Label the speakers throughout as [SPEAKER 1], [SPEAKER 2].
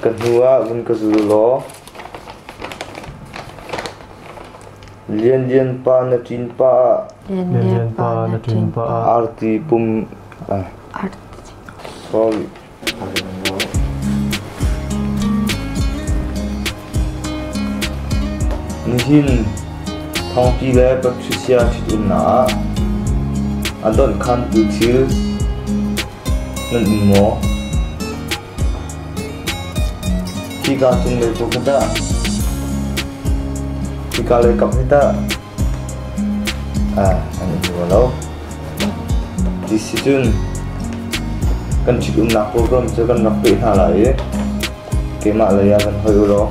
[SPEAKER 1] Ka hnuah vun ka zul law Lianlian pa na ṭin pah ah Lianlian pa na ṭin pah ah arti pum sorry. Nihin thongpi le patrisia ṭhitumnak a donh khan tu thil nan um maw? Hika cunglei bu ka dah? Hika lei kap hi dah? Ah, an um rua lo. Ti si cun kan ṭhitumnak program cu kan rak peh hna lai i keimah lei ah kan hoi u law.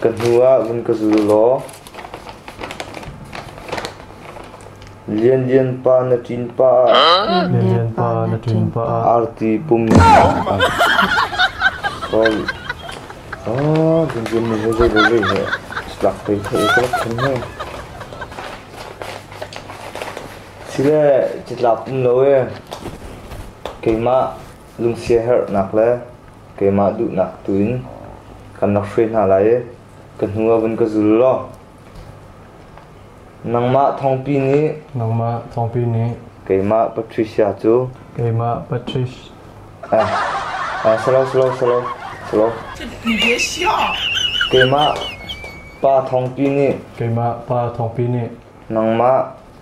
[SPEAKER 1] Ka hnu ah vun ka zul law Lianlian pa na ṭin pah ah arti pum nih Lianlian nih hin zeizat he tlak te theih ka rak thlen hoi. Sile catlap um lo ee, keimah lungsiaherhnak le keimah duhnak tuin kan rak hruai hna lai i ka hnu ah vun ka zul law nangmah thawngpi nih nangmah thawngpi nih keimah Patricia cu keimah Patricia ah ah slow slow slow
[SPEAKER 2] slow
[SPEAKER 1] keimah pa thawngpi nih keimah pa thawngpi nih nangmah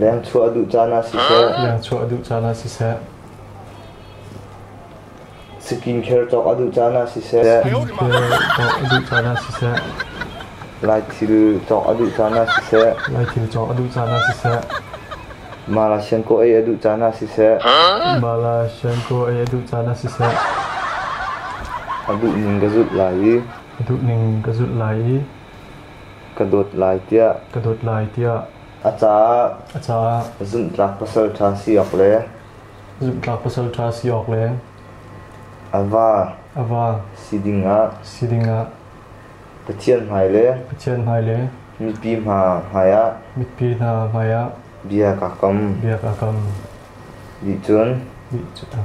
[SPEAKER 1] Leng chuah a duh caan ah siseh, skincare cawk a duh caan ah siseh, laithil cawk a duh caan ah siseh, mala siankaw ei a duh caan ah siseh, a duh ning ka zulh lai i. ka dawt lai tiah ka dawt lai tiah a caah a caah zumhtlak pasal ṭha si awk le zumhtlak pasal ṭha si awk le a va a va si dingah si dingah Pathian hmai le Pathian hmai le mipi hna hmaiah mipi hna hmaiah bia ka kam bia ka kam nih cun nih cun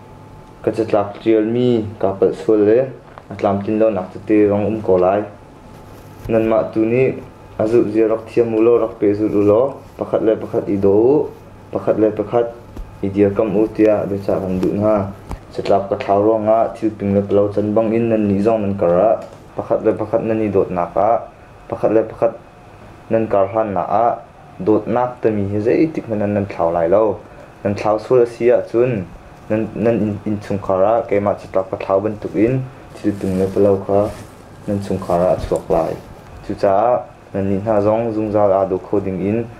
[SPEAKER 1] Ka catlap ṭialmi kaa palh sual le a tlamtlin lonak tete rang um ko lai. Nanmah tu nih a zulhzia rak thiam u law rak pehzulh u law pakhat le pakhat i daw u, pakhat le pakhat i dirkamh u tiah biacah kan duh hna. Catlap ka thlau ruangah thilping le palo can bangin nannih zong nan kar ah pakhat le pakhat nan i dawtnak ah pakhat le pakhat Nan karhlannak ah dawtnak timi hi zeitikhmanh ah nan thlau lai lo. Nan thlau sual a si ahcun nan, nan innchungkhar ah keimah caṭah ka thlau bantukin thil tung le palo kha nan chungkhar ah a chuak lai. Cucaah nannih hna zong zungzal aa daw kho dingin